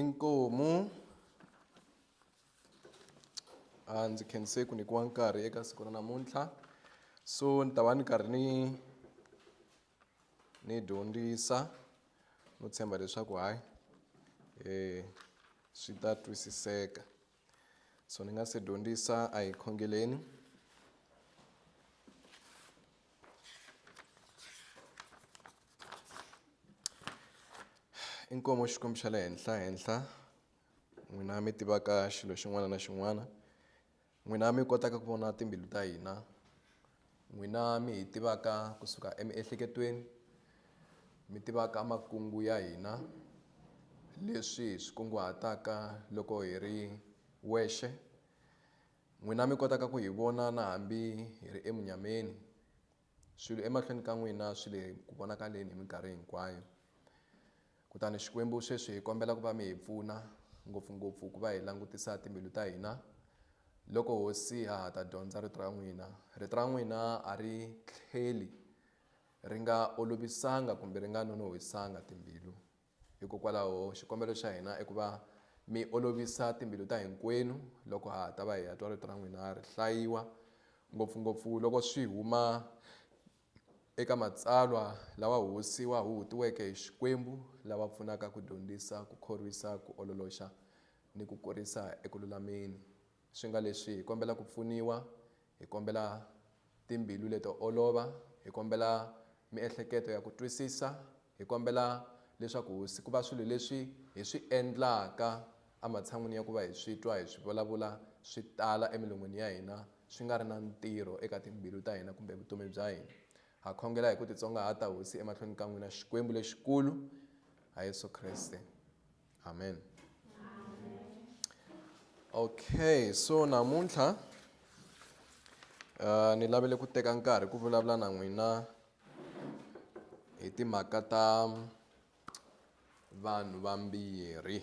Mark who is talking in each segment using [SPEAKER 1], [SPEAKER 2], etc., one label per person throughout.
[SPEAKER 1] Inkomu. A ndzi khense ku nyikiwa nkarhi eka siku ra namuntlha so ni ta va ni karhi ni ni dyondzisa no tshemba leswaku hayi swi ta twisiseka. so ni nga se dyondzisa a hi khongeleni inkomu xikwembu xa le henhla henhla n'wina mi tivaka xilo xin'wana na xin'wana n'wina mi kotaka ku vona timbilu ta hina N'wina mi hi tivaka ku suka emiehleketweni, mi tivaka makungu ya hina, leswi hi swi kunguhataka loko hi ri wexe, n'wina mi kotaka ku hi vona na hambi hi ri emunyameni, swilo emahlweni ka n'wina swi le ku vonakaleni hi minkarhi hinkwayo. Kutani Xikwembu, sweswi hi kombela ku va mi hi pfuna, ngopfu-ngopfu ku va hi langutisa timbilu ta hina. Loko Hosi ha ha ta dyondza Rito ra n'wina, Rito ra n'wina a ri tlheli ri nga olovisanga kumbe ri nga nonohwisanga timbilu. Hikokwalaho, xikombelo xa hina i ku va mi olovisa timbilu ta hinkwenu loko ha ha ta va hi ya twa Rito ra n'wina ri hlayiwa, ngopfu-ngopfu loko swi huma eka matsalwa lawa hosi wa huhutiweke hi Xikwembu lava pfunaka ku dyondzisa, ku khorwisa, ku ololoxa ni ku kurisa eku lulameni. Swi nga leswi hi kombela ku pfuniwa, hi kombela timbilu leto olova, hi kombela miehleketo ya ku twisisa, Hi kombela leswaku hosi ku va swilo leswi hi swi endlaka ematshan'wini ya ku va hi swi twa hi swi vulavula swi tala emilon'wini ya hina swi nga ri na ntirho eka timbilu ta hina kumbe vutomi bya hina. Ha khongela hi ku titsongahata hosi emahlweni ka n'wina Xikwembu lexikulu ha Yesu Kreste. Amen. Okay, so namuntlha uh, ni lavele ku teka nkarhi ku vulavula na n'wina hi timhaka ta vanhu vambirhi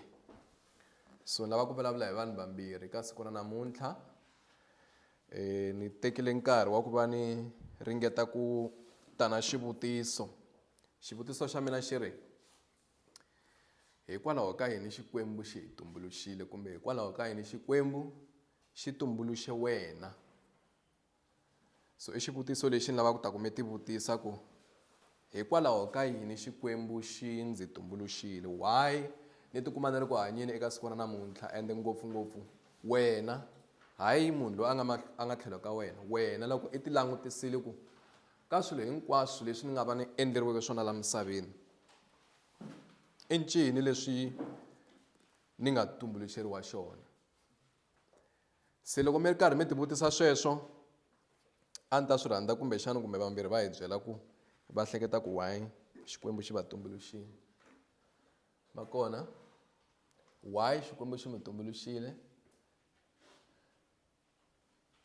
[SPEAKER 1] so lava ku vulavula hi vanhu vambirhi ka siku ra namuntlha um ni tekile nkarhi wa ku va ni ringeta ku ta na xivutiso xivutiso xa mina xi ri hikwalaho ka yini xikwembu xi hi tumbuluxile kumbe hikwalaho ka yini xikwembu xi tumbuluxe wena So i xivutiso lexi ni lavaka ku ta ku mi tivutisa ku, Hikwalaho ka yini Xikwembu xi ndzi tumbuluxile? Why ni tikuma ni ri ku hanyeni eka siku ra namuntlha ende ngopfungopfu wena, hayi munhu loyi a nga a nga tlhelo ka wena, wena loko i ti langutisile ku ka swilo hinkwaswo leswi ni nga va ni endleriweke swona laha misaveni i ncini leswi ni nga tumbuluxeriwa xona? se loko mi ri karhi mi tivutisa sweswo a ni ta swi rhandza kumbexana kumbe vambirhi va hi byela ku va hleketa ku why xikwembu xi va tumbuluxile va kona why xikwembu xi mi tumbuluxile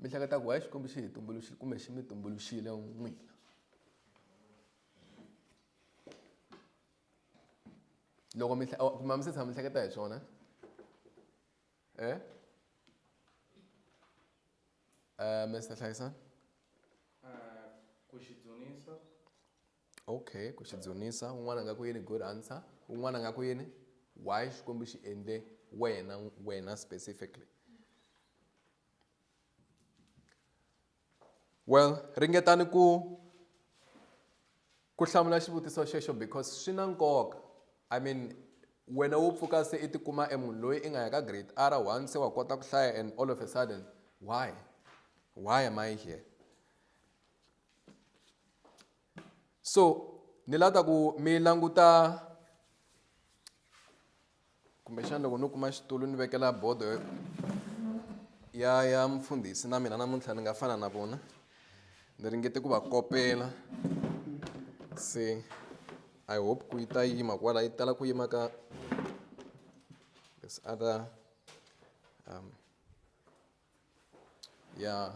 [SPEAKER 1] mi hleketa ku hayi xikwembu xi hi tumbuluxile kumbe xi mi tumbuluxile n'wina loko mi oh, kumbe mi se tshama mi hleketa hi swona e eh? um eh, mr hlayisani eh, ku xi dzunisa Okay, ku xi dzunisa. Un'wana a nga ku yini? Good answer. Un'wana a nga ku yini? Why Xikwembu xi endle wena, wena specifically? Well, ringetani ku ku hlamula xivutiso xexo because swi na nkoka. I mean, wena wo pfuka se i tikuma e munhu loyi i nga ya ka grade r one se wa kota ku hlaya and all of a sudden why why am i here so ni lava ta ku mi languta kumbexana loko no kuma xitulu ni vekela bodo ya ya mfundhisi na mina namuntlha ni nga fana na vona ni ringete ku va kopela se i hope ku yi ta yima kwala yi tala ku yima ka this other um, yeah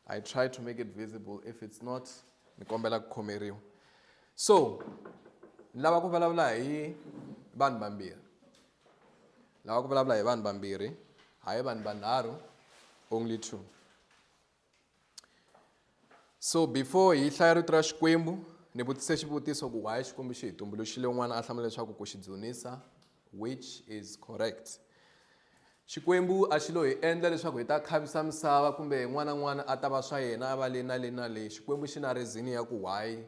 [SPEAKER 1] i try to make it visible if it's not ni kombela ku khomeriwa so ni lava ku vulavula hi vanhu vambirhi lava ku vulavula hi vanhu vambirhi hayi vanhu vanharhu only two so before hi hlaya rito ra xikwembu ni vutise xivutiso ku why xikwembu xi hi tumbuluxile un'wana a hlamula leswaku ku xi dzunisa which is correct xikwembu a xi lo hi endla leswaku hi ta khavisa misava kumbe n'wana n'wana a ta va swa yena a va le na le na le xikwembu xi na rezini ya ku why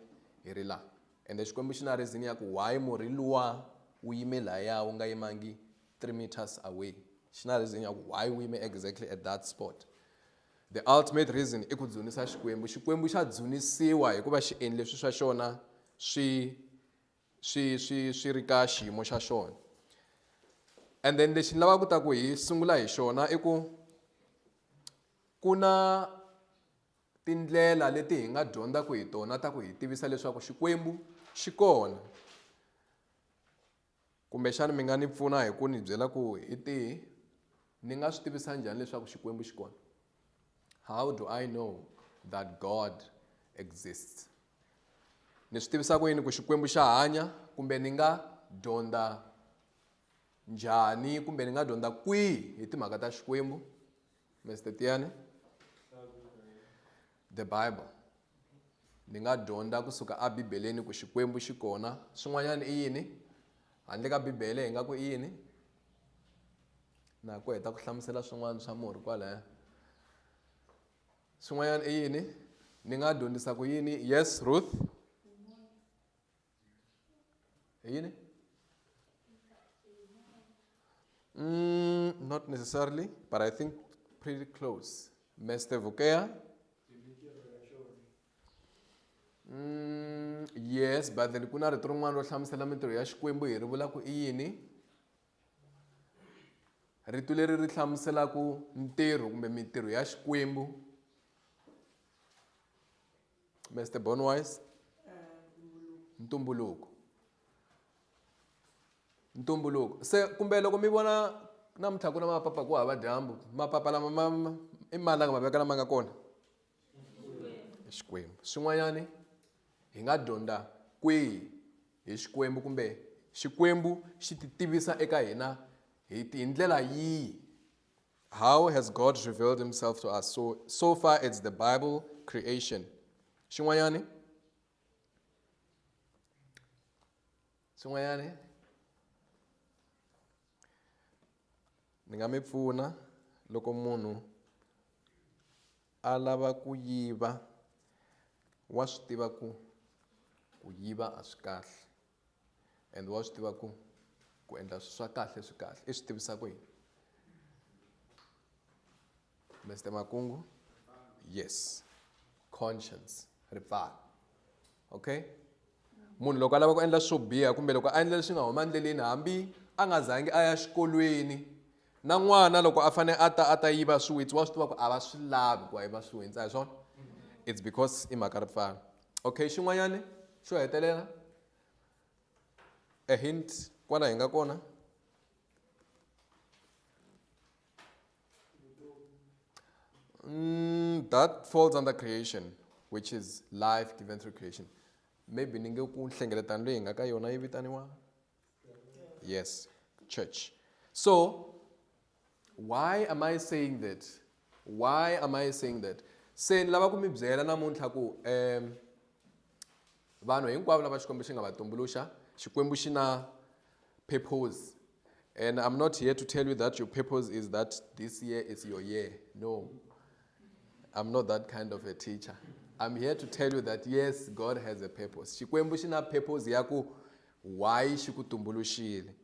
[SPEAKER 1] hi ri laha ende xikwembu xi na rezini ya ku why murhi luwa wu yime lahaya wu nga yimangi three meters away xi na rezini ya ku why wu yime exactly at that spot The ultimate reason i ku dzunisa Xikwembu. Xikwembu xa dzunisiwa hikuva xi endle swi swa xona swi swi swi swi ri ka xiyimo xa xona. And then lexi ni lavaka ku ta ku hi sungula hi xona i ku ku na tindlela leti hi nga dyondzaka hi tona ta ku hi tivisa leswaku Xikwembu xi kona. Kumbexana mi nga ni pfuna hi ku ni byela ku hi tihi ni nga swi tivisa njhani leswaku Xikwembu xi kona? How do I know that God exists? Ni swi tivisa ku yini ku Xikwembu xa hanya kumbe ni nga dyondza njhani kumbe ni nga dyondza kwihi hi timhaka ta Xikwembu? Mister Tiana The Bible ni nga dyondza kusuka a Bibeleni ku Xikwembu xi kona swin'wanyana i yini handle ka Bibele hi nga ku i yini na ku heta ku hlamusela swin'wana swa murhi kwalaya swin'wanyana i yini ni nga dyondzisa ku yini yes Ruth Ayine? Mm, not necessarily, but I think pretty close. Mr. Vukea? Mm, yes, but then kuna rito rin'wana ro hlamusela mintirho ya Xikwembu hi ri vula ku i yini? Rito leri ri hlamuselaka ntirho kumbe mintirho ya Xikwembu Mister Bonwise ntumbuluko ntumbuluko se kumbe loko mi vona namuntlha ku na mapapa ku hava dyambu mapapa lama ma i mani la nga ma veka lama nga kona xikwembu swin'wanyani hi nga dyondza kwihi hi xikwembu kumbe xikwembu xi ti tivisa eka hina hi ndlela yihi How has God revealed himself to us? So, so far it's the Bible creation. Xin'wanyani? Xin'wanyani? Ni nga mi pfuna loko munhu a lava ku yiva wa swi tiva ku ku yiva a swi kahle. and wa swi tiva ku ku endla swilo swa kahle swi kahle i swi tivisa ku yini Mr Makungu yes conscience ripfalo okay munhu loko a lava ku endla swo biha kumbe loko a endla leswi nga huma endleleni hambi a nga zangi a ya xikolweni na n'wana loko a fanele a ta a ta yiva swiwitsi wa swi tiva ku a va swi lavi ku va yiva swiwitsi a hi swona it's because i mhaka ripfalo okay xin'wanyana xo hetelela a hint kwala hi nga kona mm, that falls under creation which is life given through creation maybe ni nge ku nhlengeletano leyi hi nga ka yona yi vitaniwa Yes, church. So, why am I saying that? Why am I saying that? Se ni lava ku mi byela namuntlha ku um vanhu hinkwavo lava xikwembu xi nga va tumbuluxa xikwembu xi na purpose and i'm not here to tell you that your purpose is that this year is your year no i'm not that kind of a teacher i'm here to tell you that yes god has a purpose xikwembu xi na purpose ya ku Why xi ku tumbuluxile?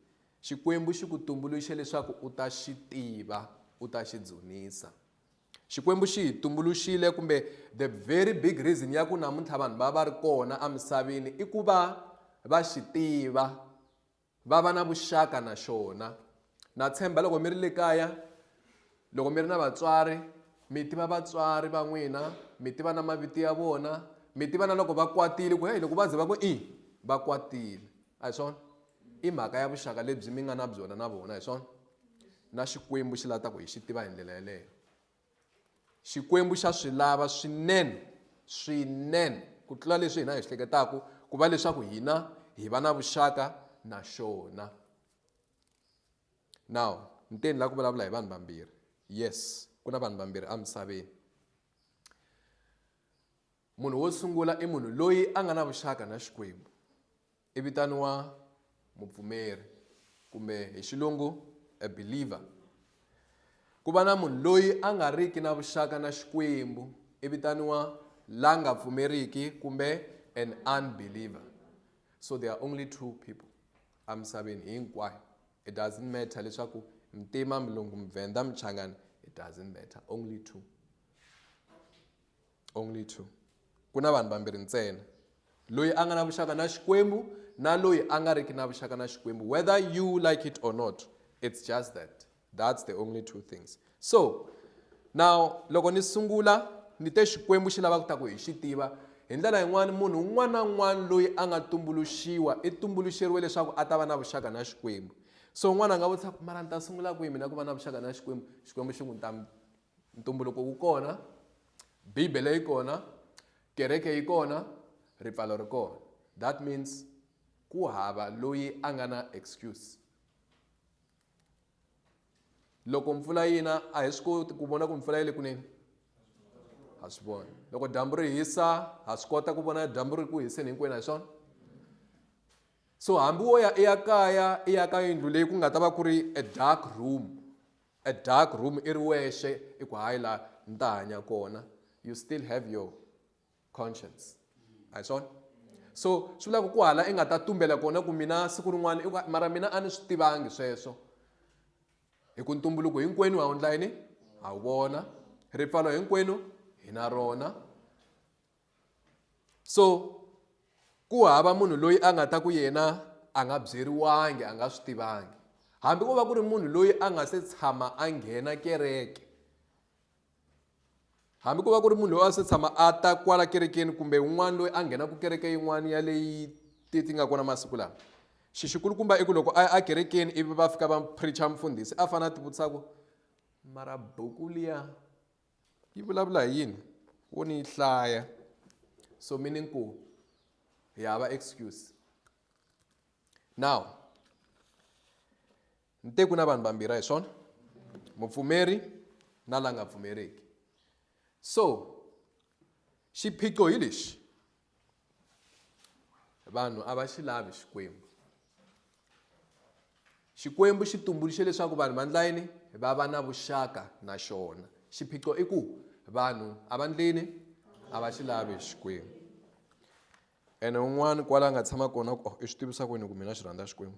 [SPEAKER 1] Xikwembu xi ku tumbuluxe leswaku u ta xi tiva, u ta xi dzunisa. Xikwembu xi hi tumbuluxile kumbe the very big reason ya ku namuntlha vanhu va va ri kona emisaveni i ku va va xi tiva, va va na vuxaka na xona, Na tshemba loko mi ri le kaya, loko mi ri na vatswari, mi tiva vatswari va n'wina, mi tiva na mavito ya vona, mi tiva na loko va kwatile ku heyi loko va ze va ku i va kwatile a hi swona i mhaka ya vuxaka lebyi mi nga na byona na vona hi swona na xikwembu xi lava ku hi xi tiva hi ndlela yeleyo xikwembu xa swi lava swinene swinene ku tlula leswi hina hi swi hleketaku ku va leswaku hina hi va na vuxaka na xona now ni te ni lava ku vulavula hi vanhu vambirhi yes ku na vanhu vambirhi emisaveni munhu wo sungula i munhu loyi a nga na vuxaka na xikwembu i vitaniwa mupfumeri kumbe hi xilungu a believer ku va na munhu loyi a nga riki na vuxaka na xikwembu i vitaniwa la nga pfumeriki kumbe an unbeliever so there are only two people a misaveni hinkwayo it doesn't matter leswaku mtima mulungu muvenda muchangani it doesn't matter only two only two ku na vanhu vambirhi ntsena loyi a nga na vuxaka na xikwembu na loyi a nga riki na vuxaka na xikwembu whether you like it or not it's just that That's the only two things. So, now loko ni sungula ni te Xikwembu xi lava ku ta ku hi xi tiva hi ndlela yin'wana munhu un'wana na un'wana loyi a nga tumbuluxiwa i tumbuluxeriwe leswaku a ta va na vuxaka na Xikwembu. So un'wana a nga vutisa ku mara ni ta sungula kwihi mina ku va na vuxaka na Xikwembu? Xikwembu xi n'wi ta ntumbuluko wu kona, Bibele yi kona, kereke yi kona, ripfalo ri kona. That means ku hava loyi a nga na excuse. loko mpfula yi na a hi swi koti ku vona ku mpfula yi le kunene ha swi vona loko dyambu ri hisa ha swi kota ku vona dyambu ri ku hiseni hinkwenu hi swona so hambi wo ya i ya kaya i ya ka yindlu leyi ku nga ta va ku ri a dark room a dark room i ri wexe i ku hayi laha ni ta hanya kona you still have your conscience a hi swona so swi vula ku ku hala i nga ta tumbela kona ku mina siku rin'wana i ku mara mina a ni swi tivangi sweswo hi ku ntumbuluko hinkwenu ha wundla yini ha wu vona ripfalo hinkwenu hi na rona so ku hava munhu loyi a nga ta ku yena a nga byeriwangi a nga swi tivangi hambi ko va ku ri munhu loyi a nga se tshama a nghena kereke hambi ko va ku ri munhu loyi a se tshama a ta kwala kerekeni kumbe un'wana loyi a nghenaka kereke yin'wana ya leyi ti ti nga kona masiku lawa xi xikulukumba i ku loko a ya ekerekeni ivi va fika va preacha mfundhisi a fanele a ti vutisa ku mara buku liya yi vulavula hi yini wo ni yi hlaya so meaning ku hi hava excuse now nte ku na vanhu vambirhi hi swona mupfumeri na la nga pfumeriki so xiphiqo hi lexi vanhu a va xi lavi xikwembu xikwembu xi tumbuluxe leswaku vanhu va ndla yini va va na vuxaka na xona xiphiqo i ku vanhu a va ndlini a va xi lavi xikwembu ene un'wana kwala a nga tshama kona ku oh, i swi tivisa kwini ku mina xi rhandza xikwembu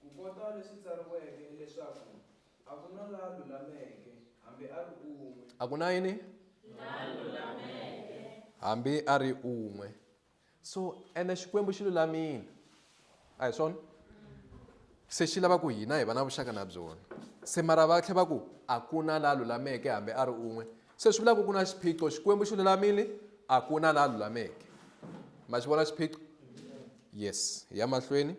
[SPEAKER 1] Kukota leswi tsariweke leswaku a ku na la lulameke hambi a ri un'we. A ku na yini? Hambi a ri un'we. So ene Xikwembu xi lulamile. A hi swona? Se xi lava ku hina hi va na vuxaka na byona. Se mara va tlhe va ku a ku na la lulameke hambi a ri un'we. Se swi vula ku ku na xiphiqo xikwembu xi lulamile a ku na la lulameke ma xi vona xiphiqo yes hi ya mahlweni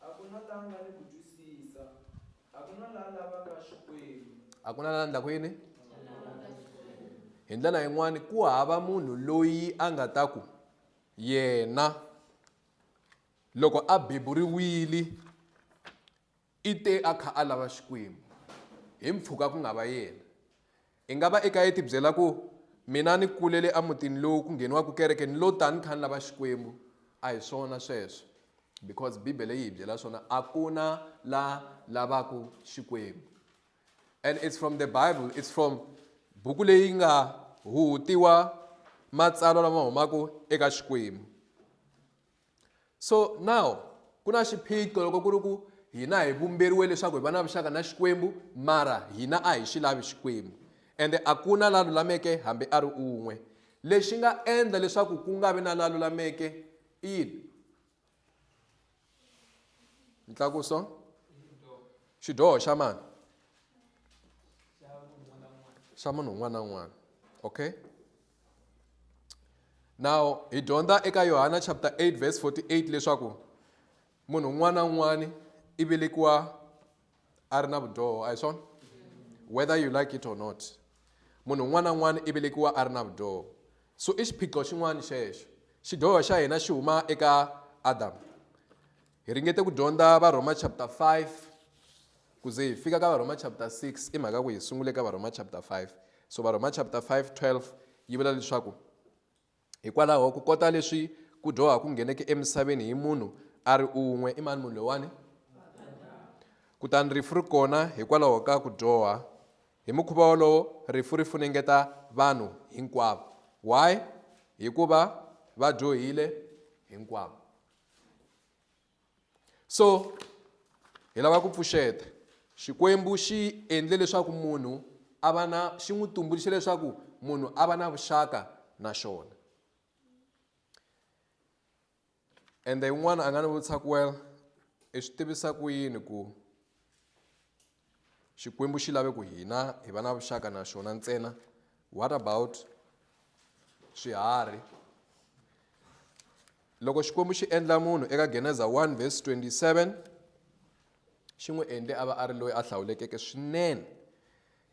[SPEAKER 1] a ku na la nga ni ku twisisa a ku na la lavaka xikwembu a ku na la ndlaku yini hi ndlela yin'wani ku hava munhu loyi a nga ta ku yena loko a beburiwile I te a kha a lava Xikwembu, hi mpfhuka ku nga va yena. I nga va i kha i tibyela ku, Mina ni kulele emutini lowu ku ngheniwaka kereke ni lo ta ni kha ni lava Xikwembu. A hi swona sweswo, because Bibele yi hi byela swona, a ku na la lavaka Xikwembu. And it's from the Bible, it's from buku leyi nga huhutiwa matsalwa lama humaka eka Xikwembu. So now ku na xiphiqo loko ku ri ku hina hi vumberiwe leswaku hi va na vuxaka na Xikwembu mara hina a hi xi lavi Xikwembu ende a ku na la lulameke hambi a ri un'we lexi nga endla leswaku ku nga vi na la lulameke i yini ntlakuso xidyoho xa mani xa munhu un'wana na un'wana okay now hi dyondza eka yohana chapter 8 verse 48 leswaku munhu un'wana na un'wana i velekiwa a ri na vudyoho a hi swona whether you like it or not munhu un'wana na un'wana i velekiwa a ri na vudyoho so i xiphiqo xin'wana xexo xidyoho xa hina xi huma eka adamu Hi ringete ku dyondza Varhoma chapter 5 ku ze hi fika ka Varhoma chapter 6 i mhaka ku hi sungule ka Varhoma chapter 5. So Varhoma chapter 5 12 yi vula leswaku hikwalaho ku kota leswi ku dyoha ku ngheneke emisaveni hi munhu a ri un'we i mani munhu lowani kutani rifu ri kona hikwalaho ka ku dyoha hi mukhuva wolowo rifu ri funengeta vanhu hinkwavo why hikuva va dyohile hinkwavo so hi lava ku pfuxeta xikwembu xi endle leswaku munhu a va na xi n'wi tumbuluxe leswaku munhu a va na vuxaka na xona ende un'wana a nga ni vutisa ku well i swi tivisa ku yini ku Xikwembu xi lave ku hina hi va na vuxaka na xona ntsena. What about swiharhi? Loko Xikwembu xi endla munhu eka Geneza 1 vhesi 27 xi n'wi endle a va a ri loyi a hlawulekeke swinene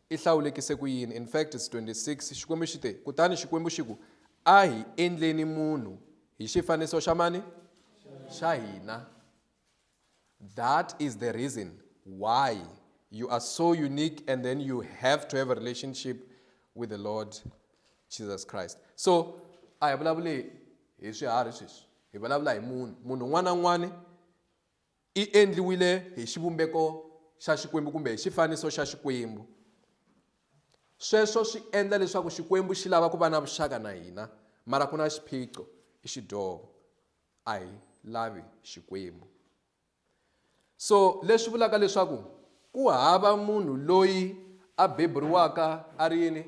[SPEAKER 1] i hlawulekise ku yini in fact is 26 xikwembu xi te kutani xikwembu xi ku a hi endleni munhu hi xifaniso xa mani xa hina That is the reason why you are so unique and then you have to have a relationship with the Lord Jesus Christ. So, a hi vulavuli hi swiharhi sweswi hi vulavula hi munhu munhu un'wana na un'wana i endliwile hi xivumbeko xa xikwembu kumbe hi xifaniso xa xikwembu sweswo swi endla leswaku xikwembu xi lava ku va na vuxaka na hina mara ku na xiphiqo i xidyovo a hi lavi Xikwembu. So leswi vulaka leswaku ku hava munhu loyi a beburiwaka a ri yini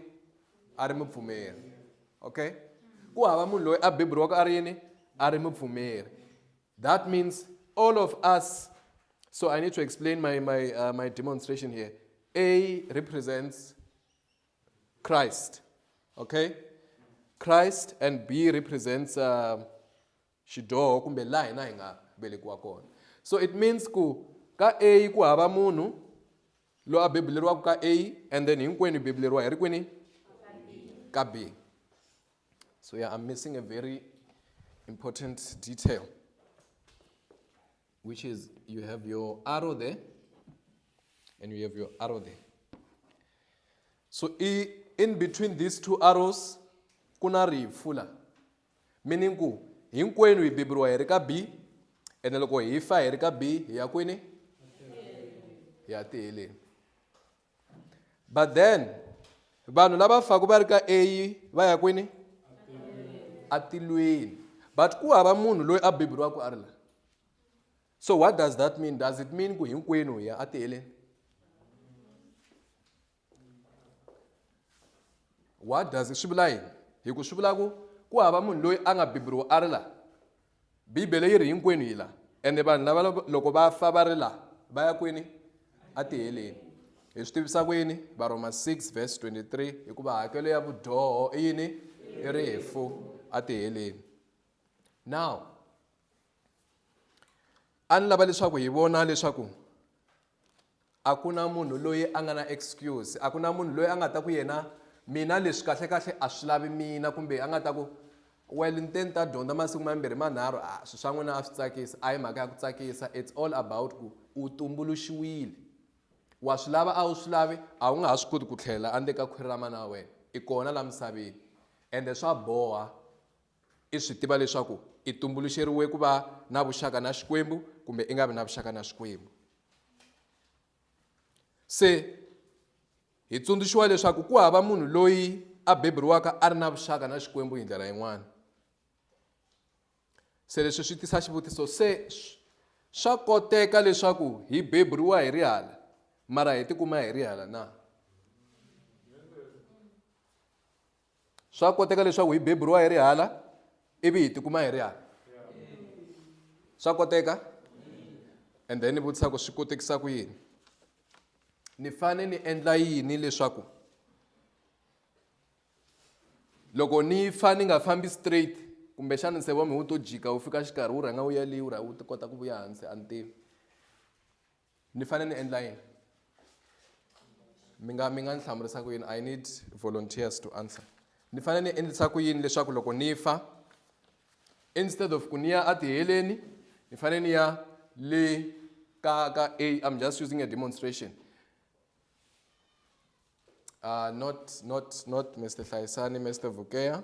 [SPEAKER 1] a ri mupfumeri. Okay? Ku hava munhu loyi a beburiwaka a ri yini a ri mupfumeri. That means all of us so I need to explain my my uh, my demonstration here. A represents Christ. Okay? Christ and B represents uh, um, xidoho kumbe laha hina hi nga velekiwa kona. So it means ku ka A ku hava munhu lo a bebuleriwaka ka A and then hinkwenu hi bebuleriwa hi ri kwini ka B. So yeah, I'm missing a very important detail. which is you have your arrow there and you have your arrow there. So in between these two arrows kuna rifu la meaning ku hinkwenu hi beburiwa hi ri ka b ene loko hi fa hi ri ka b hi ya kwini hi ya tiheleni but then vanhu lava faku va ri ka a va ya kwini atilweni but ku hava munhu loyi a beburiwaka a ri la so what does that mean does it mean ku hinkwenu hi ya atiheleni what does swi vula yini hi ku swi vula ku ku hava munhu loyi a nga beburiwa a ri la Bibele yi ri hinkwenu hi la ende vanhu lava loko va fa va ri la va ya kwini a tiheleni hi swi tivisa ku yini varhoma 6 verse 23 hikuva hakelo ya vudyoho i yini i rifu a tiheleni now a ni lava leswaku hi vona leswaku a ku na munhu loyi a nga na excuse a ku na munhu loyi a nga ta ku yena mina leswi kahle kahle a swi lavi mina kumbe a nga ta ku well ni te ni ta dyondza masiku mambirhi manharhu a swi swa n'wina a swi tsakisa a hi mhaka ya ku tsakisa it's all about ku u tumbuluxiwile wa swi lava a wu swi lavi a wu nga ha swi koti ku tlhela andle ka khwiri ra mana wa wena i kona la misaveni ende swa boha I swi tiva leswaku i tumbuluxeriwe ku va na vuxaka na Xikwembu kumbe i nga vi na vuxaka na Xikwembu. Se hi tsundzuxiwa leswaku ku hava munhu loyi a beburiwaka a ri na vuxaka na Xikwembu hi ndlela yin'wana. Se leswi swi tisa xivutiso se swa koteka leswaku hi beburiwa hi rihala mara hi tikuma hi rihala na? swa koteka leswaku hi beburiwa hi ri hala ivi hi tikuma hi ri hala swa koteka and then ni vutisa ku swi kotekisa ku yini ni fane ni endla yini leswaku loko ni fa ni nga fambi straight kumbexana nsevo mi wu to jika wu fika xikarhi wu rhanga wu yaliwu rha wu kota ku vuya hansi a ni tivi ni fane ni endla yini mi nga mi nga ni hlamurisa ku yini i need volunteers to answer ni fane ni endlisa ku yini leswaku loko ni fa instead of ku ni ya atiheleni ni fane ni ya le ka ka a i'm just using a demonstration uh, not not not mr hlayisani mr vukea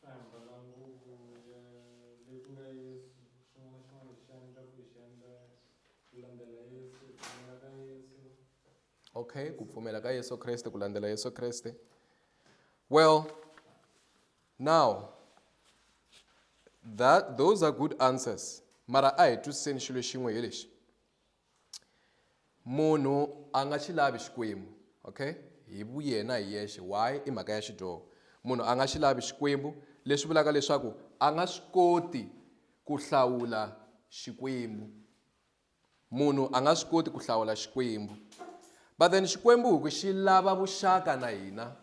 [SPEAKER 1] Famba na nguvu ya le ku nga Yesu, xin'wana na xin'wana lexi endlaka hi xi endla ku landzela Yesu, ku pfumela ka Yesu. okay ku pfumela ka yesu kreste ku landzela yesu kreste well now that those are good answers mara a hi twisiseni xilo xin'we hi lexi munhu a nga xi lavi xikwembu okay hi vuyena hi yexe why i mhaka ya xidyoho munhu a nga xi lavi xikwembu leswi vulaka leswaku a nga swi koti ku hlawula xikwembu munhu a nga swi koti ku hlawula xikwembu but then xikwembu hi ku xi lava vuxaka na hina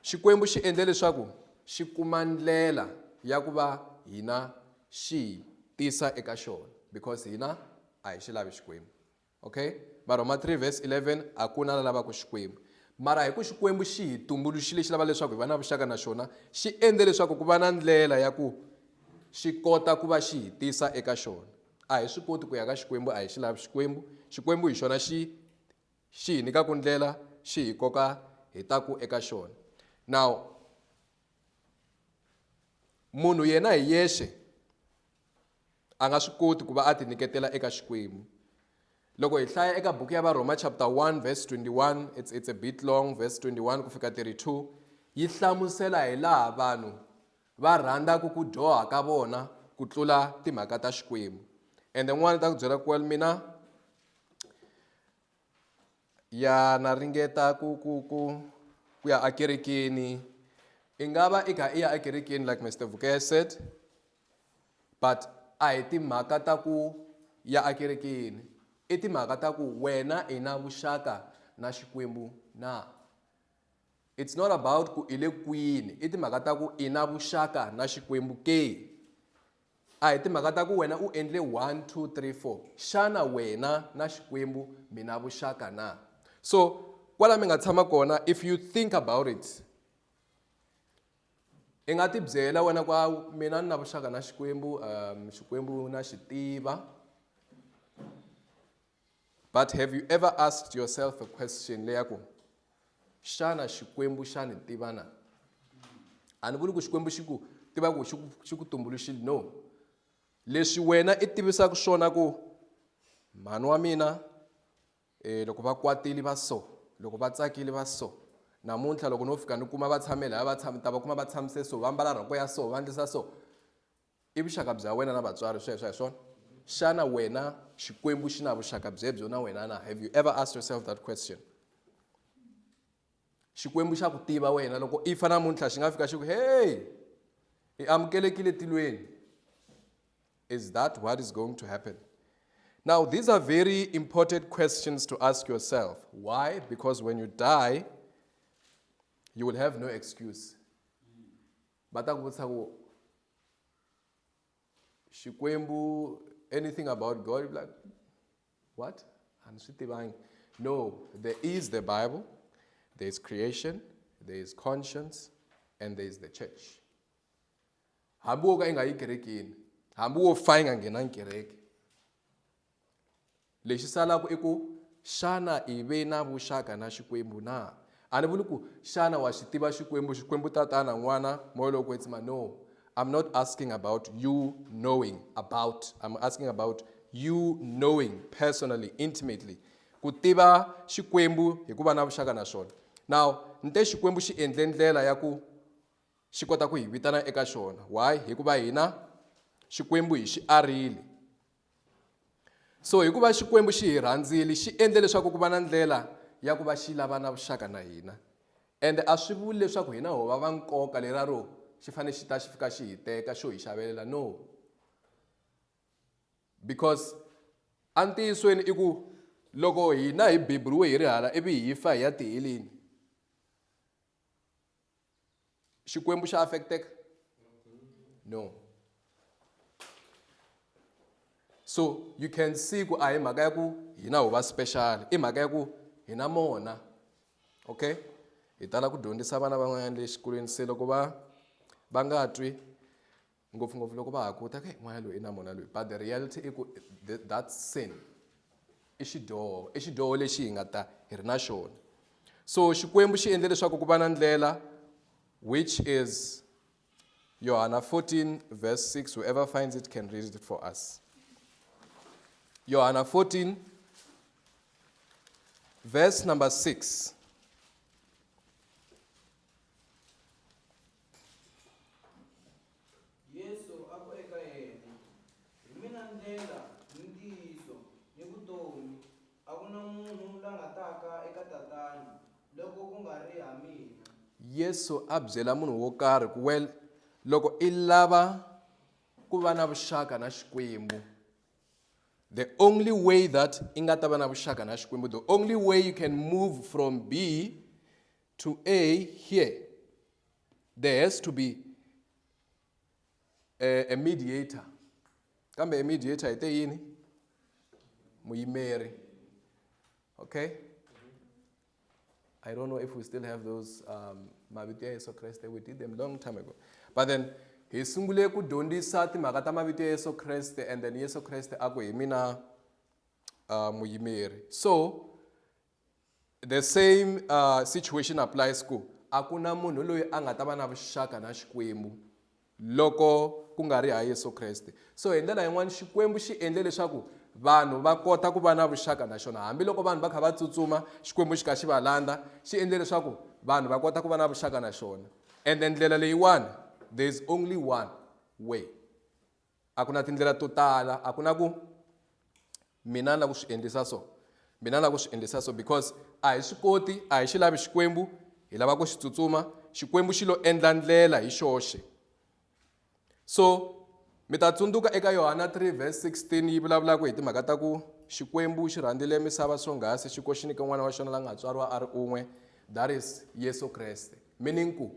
[SPEAKER 1] Xikwembu xi endle leswaku xi kuma ndlela ya ku va hina xi hi tisa eka xona because hina a hi xi lavi Xikwembu. Okay? Varhoma 3 verse 11 a ku na la lavaka Xikwembu. Mara hi ku Xikwembu xi hi tumbuluxile xi lava leswaku hi va na vuxaka na xona, xi endle leswaku ku va na ndlela ya ku xi kota ku va xi hi tisa eka xona. A hi swi koti ku ya ka Xikwembu, a hi xi lavi Xikwembu. Xikwembu hi xona xi Xi hi nyika ku ndlela, xi hi koka hi ta ku eka xona. Now, munhu yena hi yexe a nga swi koti ku va a tinyiketela eka Xikwembu. Loko hi hlaya eka buku ya Varhoma chapter 1 verse 21, it's, it's a bit long, verse 21 ku fika 32, yi hlamusela hi laha vanhu Va rhandza ku ku dyoha ka vona ku tlula timhaka ta Xikwembu. Ende n'wana ta ku byela ku well mina ya na ringeta ku ku ku ku ya ekerekeni i nga va i kha i ya ekerekeni like Mister Vukeye said but a hi timhaka ta ku ya ekerekeni i timhaka ta ku wena i na vuxaka na Xikwembu na. It's not about ku i le kwini i timhaka ta ku i na vuxaka na xikwembu ke a hi timhaka ta ku wena u endle 1 2 3 4 xana wena na xikwembu mi na vuxaka na so kwala mi nga tshama kona if you think about it i nga tibyela wena kwa mina ni na vuxaka na xikwembu um xikwembu na xi tiva But have you ever asked yourself a question leya ku xana Xikwembu xa ni tiva na? A ni vuli ku Xikwembu xi ku tiva ku xi ku tumbuluxile no. Leswi wena i tivisaka swona ku mhani wa mina eh, loko va kwatile va so loko va tsakile va so namuntlha loko no fika ni kuma va tshame laya va tshame ta va kuma va tshamise so va mbala rhoko ya so va ndlisa so I vuxaka bya wena na vatswari sweswo a hi swona? Xana wena Xikwembu xi na vuxaka byebyo na wena na? Have you ever asked yourself that question? Xikwembu xa ku tiva wena loko i fa namuntlha xi nga fika xi ku hey i amukelekile tilweni is that what is going to happen now these are very important questions to ask yourself why because when you die you will have no excuse va ta ku vutisa ku xikwembu anything about god you like what a ni swi tivangi no there is the bible there is creation there is conscience and there is the church hambi wo ka yi nga yi kerekini hambi wo fa yi nga nghenangi kereke Lexi salaka i ku, Xana i ve na vuxaka na Xikwembu na? A ni vuli ku, Xana wa xi tiva Xikwembu, Xikwembu Tatana, N'wana, Moya lowo Kwetsima? No. I'm not asking about you knowing about, I'm asking about you knowing personally, intimately. Ku tiva Xikwembu hi ku va na vuxaka na xona. Now, ni te Xikwembu xi endle ndlela ya ku xi kota ku hi vitana eka xona. Why? Hikuva hina Xikwembu hi xi arile. so hikuva xikwembu xi hi rhandzile xi endle leswaku ku va na ndlela ya ku va xi lava na vuxaka na hina ende a swi vuli leswaku hina ho va va nkoka lera ro xi fanele xi ta xi fika xi hi teka xo hi xavelela no because entiyisweni i ku loko hina hi beburiwe hi ri hala ivi hi fa hi ya tiheleni xikwembu xa affecteka no so you can see ku a hi mhaka ya ku hina hu va special i mhaka ya ku hina mona okay hi tala ku dyondzisa vana van'wanyana le xikolweni se loko va va nga twi Ngopfungopfu loko va ha ku ta, n'wana loyi i na mona loyi. But the reality i ku that sin i xidyoho, i xidyoho lexi hi nga ta hi ri na xona. So Xikwembu xi endle leswaku ku va na ndlela which is Yohana 14 verse 6 whoever finds it can read it for us Yohana 14 verse number 6 Yesu a ku eka yena, Hi mina ndlela, ni ntiyiso, ni vutomi, a ku na munhu la nga taka eka Tatana loko ku nga ri ha mina. Yesu a byela munhu wo karhi ku well loko i lava ku va na vuxaka na Xikwembu the only way that i nga ta va na vuxaka na Xikwembu the only way you can move from B to A here, there has to be a, a mediator. Come a mediator ite yini? Muyimeri. Okay? I don't know if we still have those um, mavito ya Yesu Kriste. We did them long time ago. But then hi sungule ku dyondzisa timhaka ta mavito ya Yesu Kriste and then Yesu Kriste a ku hi mina uh, muyimeri. So The same uh, situation applies ku a ku na munhu loyi a nga ta va na vuxaka na Xikwembu loko ku nga ri ha Yesu Kreste. So hi ndlela yin'wana Xikwembu xi endle leswaku vanhu va kota ku va na vuxaka na xona hambiloko vanhu va kha va tsutsuma Xikwembu xi kha xi va landza xi endle leswaku vanhu va kota ku va na vuxaka na xona ende ndlela leyiwani there is only one way A ku na tindlela to tala, a ku na ku mina ni lava ku swi endlisa so, mina ni lava ku swi endlisa so because a hi swi koti, a hi xi lavi Xikwembu, hi lava ku xi tsutsuma. Xikwembu xi lo endla ndlela hi xoxe. So mi ta tsundzuka eka Yohana 3 verse 16 yi vulavulaka hi timhaka ta ku Xikwembu xi rhandzile misava swonghasi xi ko xi nyike n'wana wa xona la nga tswariwa a ri un'we, that is Yesu Kreste. Meaning ku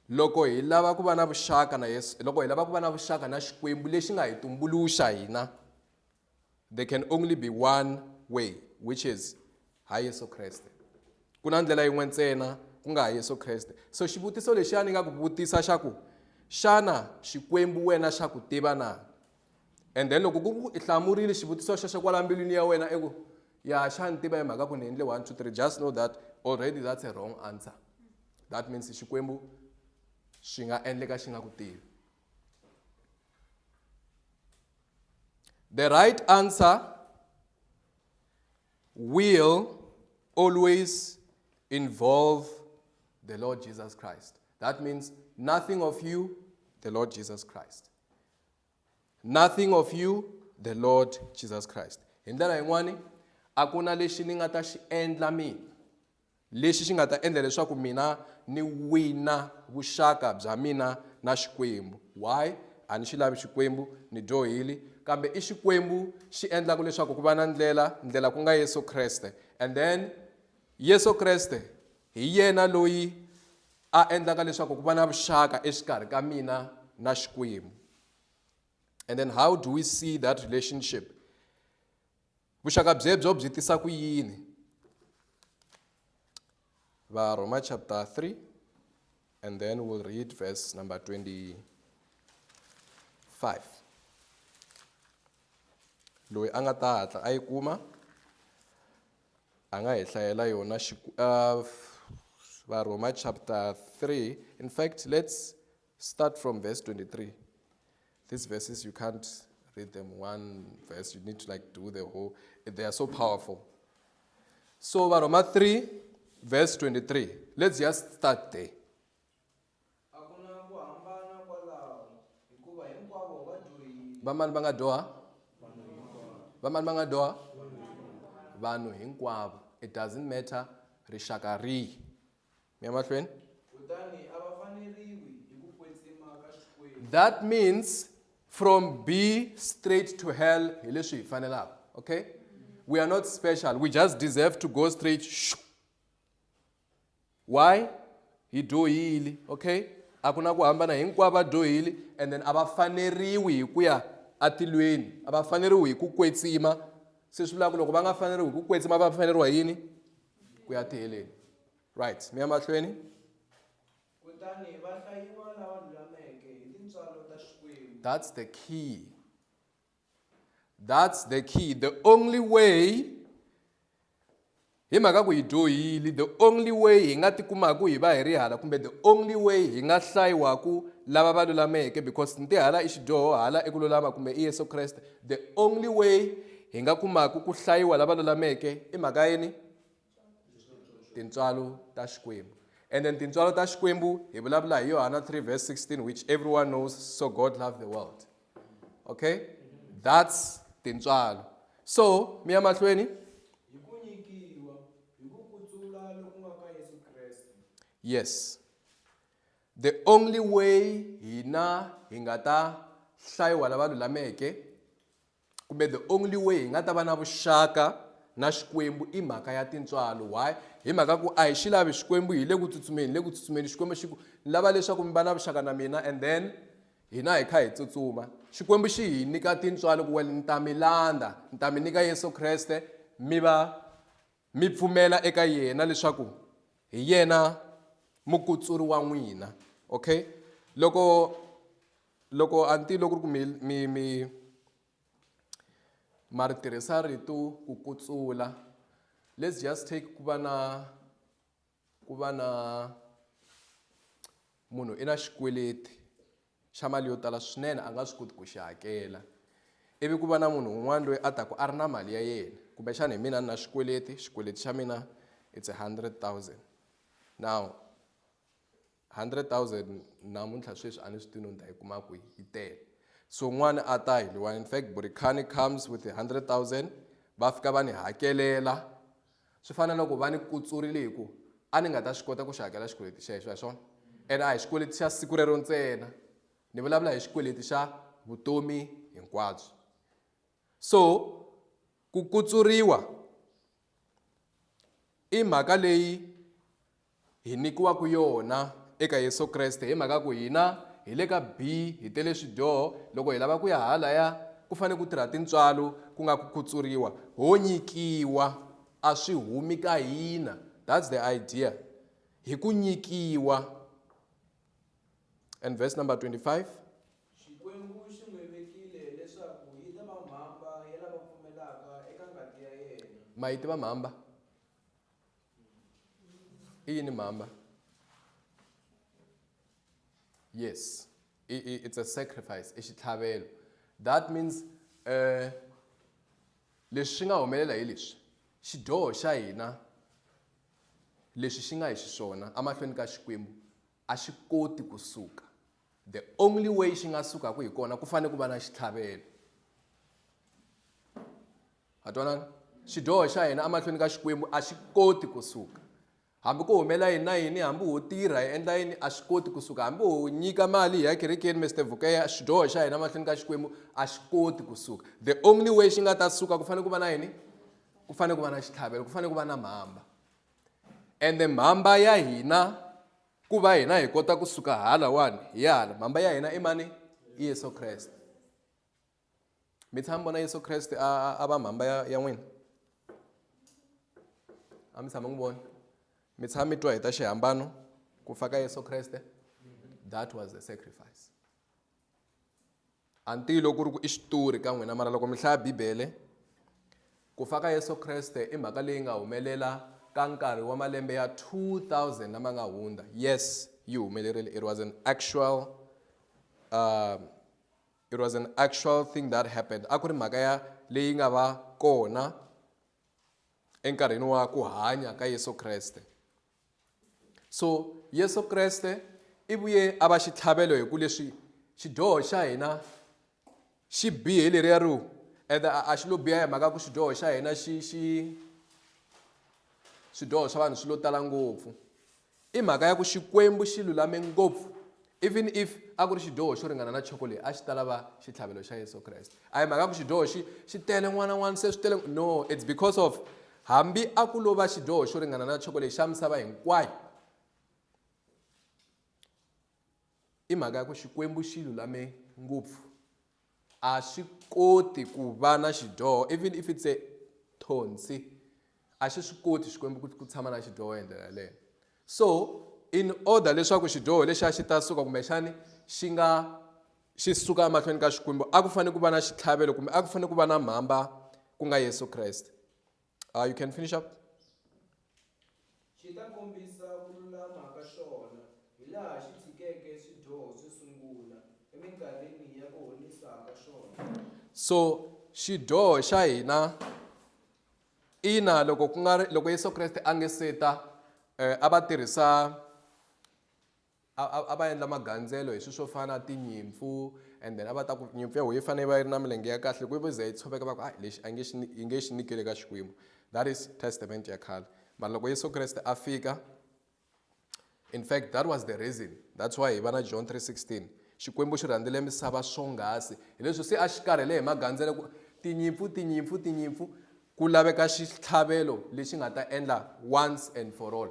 [SPEAKER 1] loko hi lava ku va na vuxaka na yesu loko hi lava ku va na vuxaka na xikwembu lexi nga hi tumbuluxa hina there can only be one way which is ha yesu kreste ku na ndlela yin'we ntsena ku nga ha yesu kreste so xivutiso lexi a ni nga ku vutisa xa ku xana xikwembu wena xa ku tiva na and then loko ku i hlamurile xivutiso xexo kwala mbilwini ya wena i ku ya xa ni tiva hi mhaka ku ni endle one two three just know that already that's a wrong answer that means xikwembu swi nga endleka xi nga ku tivi the right answer will always involve the lord jesus christ that means nothing of you the lord jesus christ nothing of you the lord jesus christ hi ndlela yin'wani a ku na lexi ni nga ta xi endla mina lexi xi nga ta endla leswaku mina ni wina vuxaka bya mina na xikwembu why a ni xi lavi xikwembu ni dyohile kambe i xikwembu xi endlaka leswaku ku va na ndlela ndlela ku nga yesu kreste and then yesu kreste Hi yena loyi a endlaka leswaku ku va na vuxaka exikarhi ka mina na Xikwembu. And then how do we see that relationship? Vuxaka byebyo byi tisa ku yini? Varhoma chapter 3 and then we'll read verse number 25. Loyi a nga ta hatla a yi kuma a nga hi hlayela yona uh, varhoma chapter 3 in fact let's start from verse 23 these verses you can't read them one verse you need to like do the whole they are so powerful so varhoma 3 verse 23 let's just start there A ku na ku hambana kwalaho hikuva hinkwavo va dyohile. Vamani va nga dyoha? Vamani va nga dyoha? Vanhu hinkwavo. It doesn't matter rixaka rihi. Mi ya mahlweni. Kutani a va faneriwi hi ku kwetsima ka Xikwembu. That means from be straight to hell hi leswi hi fanelaka. Okay? We are not special. We just deserve to go straight. Shoo. why hi dyohile okay a ku na ku hambana hinkwavo va dyohile and then a va faneriwi hi ku ya atilweni a va faneriwi hi ku kwetsima se swi vula ku loko va nga faneriwi hi ku kwetsima va faneriwa yini ku ya tiheleni right mi ya mahlweni kutani va hlayiwa lava lulameke hi tintswalo ta xikwembu that's the key That's the key. The only way hi mhaka ku hi dyohile the only way hi nga tikumaku hi va hi ri hala kumbe the only way hi nga hlayiwaku lava va lulameke because nti hala i xidyoho hala i ku lulama kumbe i yesu kreste the only way hi nga kumaku ku hlayiwa lava lulameke i mhaka yini tintswalo ta xikwembu and then tintswalo ta xikwembu hi vulavula hi yohana 3 verse 16 which everyone knows so god loved the world okay that's tintswalo so mi ya mahlweni yes the only way hina hi nga ta hlayiwa lava lulameke kumbe the only way hi nga ta va na vuxaka na xikwembu i mhaka ya tintswalo why hi mhaka ku a hi xi lavi xikwembu hi le ku tsutsumeni hi le ku tsutsumeni xikwembu xi ku ni lava leswaku mi va na vuxaka na mina and then hina hi kha hi tsutsuma xikwembu xi hi nyika tintswalo ku wena ni ta mi landza ni ta mi nyika yesu kreste mi va mi pfumela eka yena leswaku hi yena mukutsuri wa n'wina okay loko Loko a ni tivi loko ku ri ku mi mi mi ma ri tirhisa rito ku kutsula let's just take ku va na ku va na munhu i na xikweleti xa mali yo tala swinene a nga swi koti ku xi hakela ivi ku va na munhu un'wana loyi a taka a ri na mali ya yena kumbexana hi mina ni na xikweleti xikweleti xa mina it's a hundred thousand now 100,000 namuntlha sweswi a ni swi tivi no ni ta yi kuma kwihi yi tele so n'wana a ta hi liwani in fact burikani comes with 100,000 va fika va ni hakelela swi fana na loko va ni kutsurile hi ku a ni nga ta swi kota ku xi hakela xikweleti xexo hi swona ene a hi xikweleti xa siku rero ntsena ni vulavula hi xikweleti xa vutomi hinkwabyo so ku kutsuriwa I mhaka leyi hi nyikiwaka yona eka Yesu Kreste hi mhaka ku hina hi le ka B hi tele swidyoho loko hi lava ku ya halaya ku fanele ku tirha tintswalo ku nga ku khutsuriwa ho nyikiwa a swi humi ka hina that's the idea hi ku nyikiwa And verse number 25. ma yi tiva mhamba i yini mhamba yes it's a sacrifice i xitlhavelo that means um leswi swi nga humelela hi leswi xidyoho xa hina Leswi xi nga hi xiswona amahlweni ka Xikwembu a xi koti ku suka. The only way xi nga sukaka hi kona ku fanele ku va na xitlhavelo. Ha twanana? Xidyoho xa hina amahlweni ka Xikwembu a xi koti ku suka. Hambi ku humela yini na yini, hambi ho tirha hi endla yini a xi koti ku suka. Hambi ho nyika mali hi ya kerekeni Mister Vukeya, xidyoho xa hina amahlweni ka Xikwembu a xi koti ku suka. The only way xi nga ta suka ku fanele ku va na yini? ku fanele ku va na xitlhavelo ku fanele ku va na mhamba ende mhamba ya hina ku va hina hi kota ku suka halawani hi ya hala mhamba ya hina i mani i yesu kreste mi tshami vona yesu kreste a a va mhamba ya ya n'wina a mi tshama n'wi vona mi tshama mi twa hi ta xihambano ku fa ka yesu kreste that was the sacrifice a ni tivi loko ku ri ku i xitori ka n'wina mara loko mi hlaya bibele ku fa ka yesu kreste i mhaka leyi nga humelela ka nkarhi wa malembe ya 2000 lama nga hundza yes yi humelerile it was an actual uh, it was an actual thing that happened a ku ri mhaka ya leyi nga va kona enkarhini wa ku hanya ka yesu kreste So Yesu Kreste i vuye a va xitlhavelo hi ku leswi xidyoho xa hina xi bihe leriya ri and a xi lo biha hi mhaka ku xidyoho xa hina xi xi swidyoho swa vanhu swi lo tala ngopfu i mhaka ya ku xikwembu xi lulame ngopfu Even if a ku ri xidyoho xo ringana na chocolate a xi ta lava xitlhavelo xa Yesu Kreste. A hi mhaka ku xidyoho xi xi tele n'wana n'wana se swi tele no it's because of hambi a ku lova xidyoho xo ringana na chocolate xa misava hinkwayo i mhaka ya ku xikwembu xi lulame ngopfu a swi koti ku va na xidyoho even if it's a thonsi a xi swi koti xikwembu ku ku tshama na xidyoho hi ndlela yaleyo so in order leswaku xidyoho lexiya xi ta suka kumbexani xi nga xi suka emahlweni ka xikwembu a ku fanele ku va na xitlhavelo kumbe a ku fanele ku va na mhamba ku nga yesu kreste Uh, you can finish up. xi ta kombisa ku lulama ka xona hi laha xi tshikeke swidyoho swo sungula eminkarhini ya ku honisa ka xona so xidyoho xa hina ina loko ku nga ri loko yesu kreste a nge seta eh, a va tirhisa A, a, a va endla magandzelo hi swilo swo fana na tinyimpfu and then a va ta ku nyimpfu ya wehe yi fanele yi va yi ri na milenge ya kahle loko yi za yi tshoveka va ku hayi lexi a nge xi yi nge xi nyikeli ka Xikwembu that is testament ya khale mara loko Yesu Kreste a fika in fact that was the reason that's why hi va na John 3:16 Xikwembu xi rhandzele misava swonghasi hileswi se a xi karhele hi magandzelo ku tinyimpfu tinyimpfu tinyimpfu ku laveka xitlhavelo lexi nga ta endla once and for all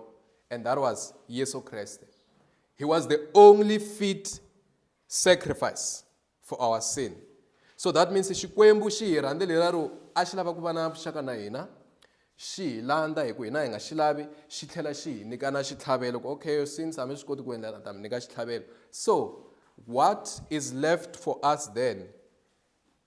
[SPEAKER 1] And that was Yesu Kriste. He was the only fit sacrifice for our sin. So that means Xikwembu xi hi rhandze leraro a xi lava ku va na vuxaka na hina xi hi landza hi ku hina hi nga xi lavi xi tlhela xi hi nyika na xitlhavelo ku okay since a mi swi koti ku endla ta mi nyika xitlhavelo so what is left for us then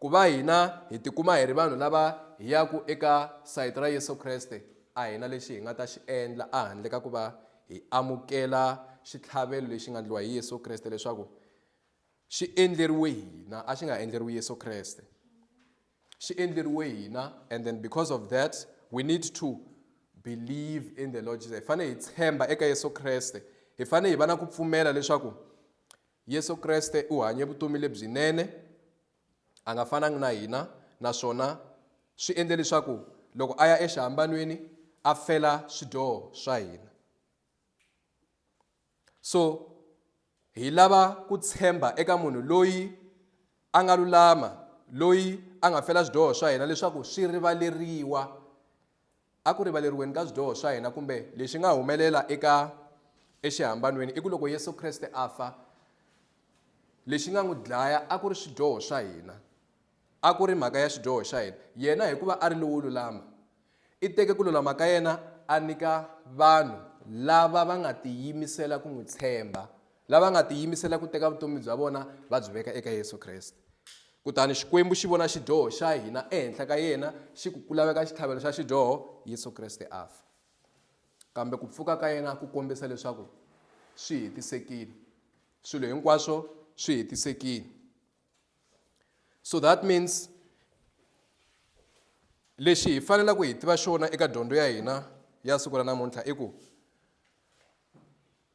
[SPEAKER 1] Ku va hina hi tikuma hi ri vanhu lava hi yaka eka sayiti ra Yesu Kreste, a hi na lexi hi nga ta xi endla ehandle ka ku va hi amukela xitlhavelo lexi nga endliwa hi Yesu Kreste leswaku xi endleriwe hina, a xi nga endleriwi Yesu Kreste. Xi endleriwe hina and then because of that we need to believe in the Lord Jesus. Hi fanele hi tshemba eka Yesu Kreste. Hi fanele hi va na ku pfumela leswaku Yesu Kreste u hanye vutomi lebyinene, a nga fanangi na hina, naswona swi endle leswaku loko a ya exihambanweni a fela swidyoho swa hina. So hi lava ku tshemba eka munhu loyi a nga lulama, loyi a nga fela swidyoho swa hina leswaku swi rivaleriwa. Eku rivaleriweni ka swidyoho swa hina kumbe lexi nga humelela eka exihambanweni i ku loko Yesu Kreste a fa, lexi nga n'wi dlaya a ku ri swidyoho swa hina, a ku ri mhaka ya xidyoho xa hina. Yena hikuva a ri lowo lulama, i teke ku lulama ka yena a nyika vanhu lava va nga tiyimisela ku n'wi tshemba lava nga tiyimisela ku teka vutomi bya vona va byi veka eka Yesu Kreste. Kutani Xikwembu xi vona xidyoho xa hina ehenhla ka yena, xi ku ku laveka xitlhavelo xa xidyoho, Yesu Kreste a fa. Kambe ku pfuka ka yena ku kombisa leswaku swi hetisekile. Swilo hinkwaswo swi hetisekile. So that means lexi hi fanela ku hi tiva xona eka dyondzo ya hina ya siku ra namuntlha i ku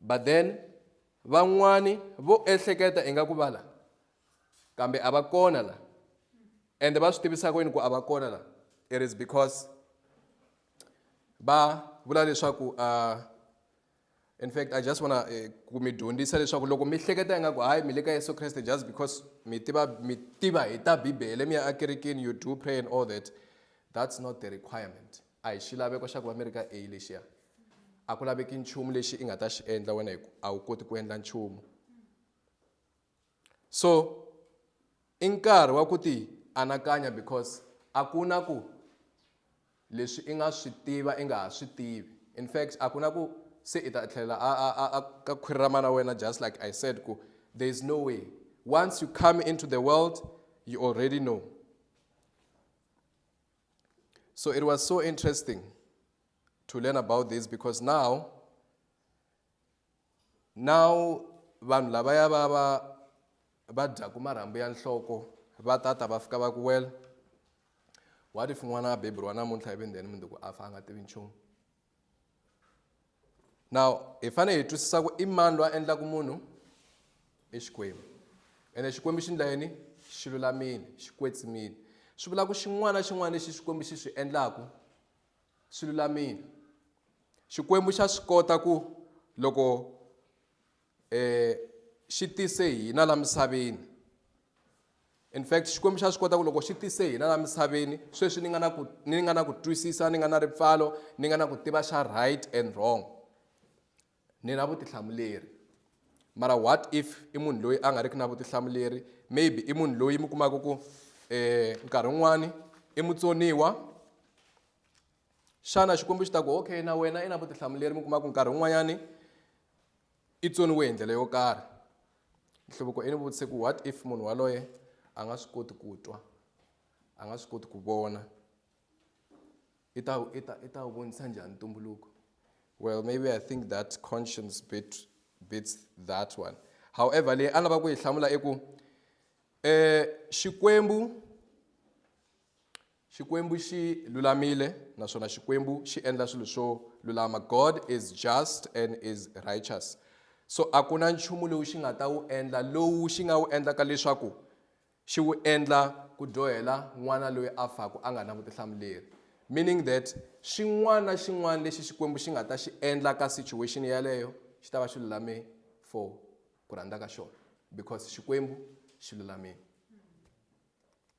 [SPEAKER 1] But then van'wani vo ehleketa ingaku va la kambe a va kona la ende va swi tivisa ku yini ku a va kona la it is because va vula leswaku uh, in fact i just wanna eh, ku mi dyondzisa leswaku loko mi hleketa ingaku hayi mi le ka yesu kreste just because mi tiva mi tiva hi ta bibele mi ya akerekeni you do pray and all that that's not the requirement A hi xilaveko xa ku va mi ri ka A lexiya. A ku laveki nchumu lexi i nga ta xi endla wena hi ku a wu koti ku endla nchumu. So i nkarhi wa ku ti anakanya because a ku na ku leswi i nga swi tiva i nga ha swi tivi in fact a ku na ku se i ta tlhelela a a a a ka khwiri ra mana wena just like I said ku there is no way once you come into the world you already know. So it was so interesting to learn about this because now, now vanhu lavaya va va va dyaku marhambu ya nhloko va tata va fika va ku well what if n'wana a beburiwa namuntlha ivi then mundzuku a fa a nga tivi nchumu now hi fanele hi twisisa ku i mani loyi a endlaka munhu i xikwembu ene xikwembu xi ndla yini xi lulamile xi kwetsimile swi vula ku xin'wana na xin'wana lexi xikwembu xi swi endlaku swi lulamile xikwembu xa swi kota ku loko E xi tise hina la misaveni in fact xikwembu xa swi kota ku loko xi tise hina la misaveni sweswi ni nga na ku ni nga na ku twisisa ni nga na ripfalo ni nga na ku tiva xa right and wrong ni na vutihlamuleri mara what if i munhu loyi a nga riki na vutihlamuleri maybe i munhu loyi mi kumaka ku eh nkarhi wun'wani i mutsoniwa xana xikwembu xi ta ku okay na wena i na vutihlamuleri mi kumaka nkarhi wun'wanyani i tsoniwe hi ndlela yo karhi nhluvuko i ni vutise ku what if munhu waloye a nga swi koti ku twa a nga swi koti ku vona i ta i ta i ta wu vonisa njhani ntumbuluko well maybe i think that conscience bit bits that one however leyi a lava ku yi hlamula i ku um xikwembu Xikwembu xi lulamile naswona Xikwembu xi endla swilo swo lulama. God is just and is righteous. So a ku na nchumu lowu xi nga ta wu endla lowu xi nga wu endlaka leswaku xi wu endla ku dyohela n'wana loyi a faku a nga na vutihlamuleri meaning that xin'wana na xin'wana lexi xikwembu xi nga ta xi endla ka situation yaleyo xi ta va xi lulame for ku rhandza ka xona because xikwembu xi lulamile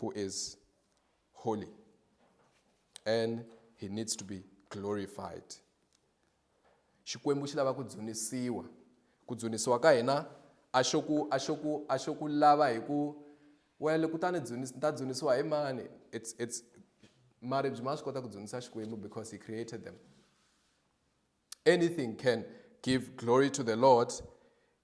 [SPEAKER 1] who is holy and he needs to be glorified xikwembu xi lava ku dzunisiwa ku dzunisiwa ka hina a xo ku a xo ku a xo ku lava hi ku wele kutani ni ta dzunisiwa hi mani it's it's maribye ma swi kota ku dzunisa xikwembu because he created them Anything can give glory to the Lord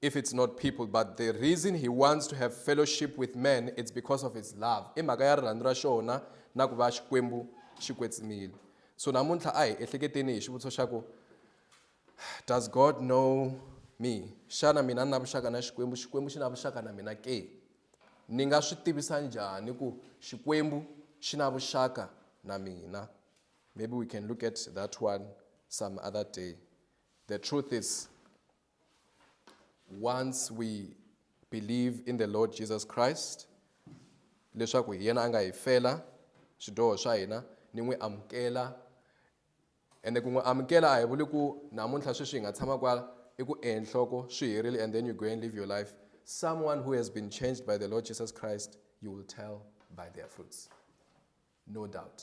[SPEAKER 1] if it's not people, but the reason he wants to have fellowship with men, it's because of his love. I mhaka ya rirhandzu ra xona na ku va xikwembu xi kwetsimile. So namuntlha a hi ehleketeni hi xivutiso xa ku does God know me? Xana mina ni na vuxaka na Xikwembu? Xikwembu xi na vuxaka na mina ke? Ni nga swi tivisa njhani ku Xikwembu xi na vuxaka na mina? Maybe we can look at that one some other day. The truth is, once we believe in the Lord Jesus Christ, leswaku hi yena a nga hi fela swidyoho swa hina ni n'wi amukela ende ku n'wi amukela a hi vuli ku namuntlha sweswi hi nga tshama kwala i ku enhloko swi herile and then you go and live your life someone who has been changed by the lord jesus christ you will tell by their fruits no doubt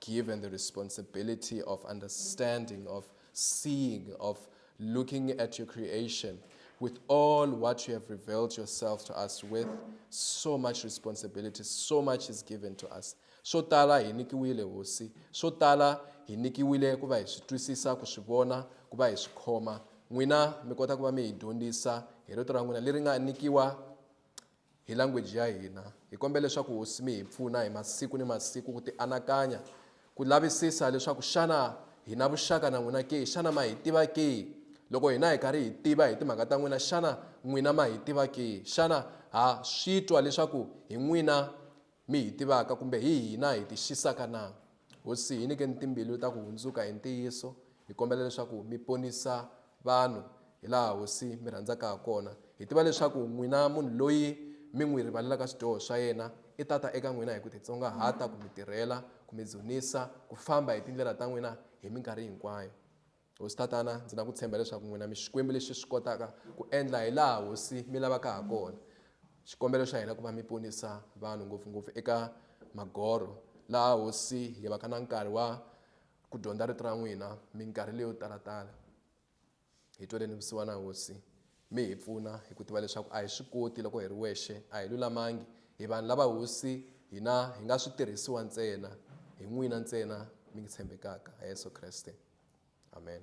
[SPEAKER 1] given the responsibility of understanding, of seeing, of looking at your creation with all what you have revealed yourself to us with, so much responsibility, so much is given to us. swo tala hi nikiwile hosi swo tala hi nikiwile ku va hi swi twisisa ku swi vona ku va hi swi khoma n'wina mi kota ku va mi hi dyondzisa hi rito ra n'wina leri nga nikiwa hi language ya hina. Hi kombela leswaku Hosi mi hi pfuna hi masiku ni masiku ku tianakanya, ku lavisisa leswaku xana hi na vuxaka na n'wina ke? Xana ma hi tiva ke? Loko hina hi karhi hi tiva hi timhaka ta n'wina, xana n'wina ma hi tiva ke? Xana ha swi twa leswaku hi n'wina mi hi tivaka kumbe hi hina hi ti xisaka na? Hosi, hi nyikeni timbilu ta ku hundzuka hi ntiyiso. Hi kombela leswaku mi ponisa vanhu hi laha Hosi mi rhandzaka ha kona. Hi tiva leswaku n'wina munhu loyi mi n'wi rivalelaka swidyoho swa yena i ta ta eka n'wina hi ku titsongahata, ku mi tirhela, ku mi dzunisa, ku famba hi tindlela ta n'wina hi minkarhi hinkwayo. Hosi Tatana, ndzi na ku tshemba leswaku n'wina mi Xikwembu lexi swi kotaka ku endla hi laha Hosi mi lavaka ha kona. Xikombelo xa hina ku va mi ponisa vanhu ngopfu-ngopfu eka magorho, laha Hosi hi vaka na nkarhi wa ku dyondza Rito ra n'wina minkarhi leyo tala-tala. Hi tweleni vusiwana, Hosi. Mi hi pfuna hi ku tiva leswaku a hi swi koti loko hi ri wexe, a hi lulamangi, hi vanhu lava Hosi hina hi nga switirhisiwa ntsena, hi n'wina ntsena mi ngi tshembekaka, ha Yesu Kreste. Amen.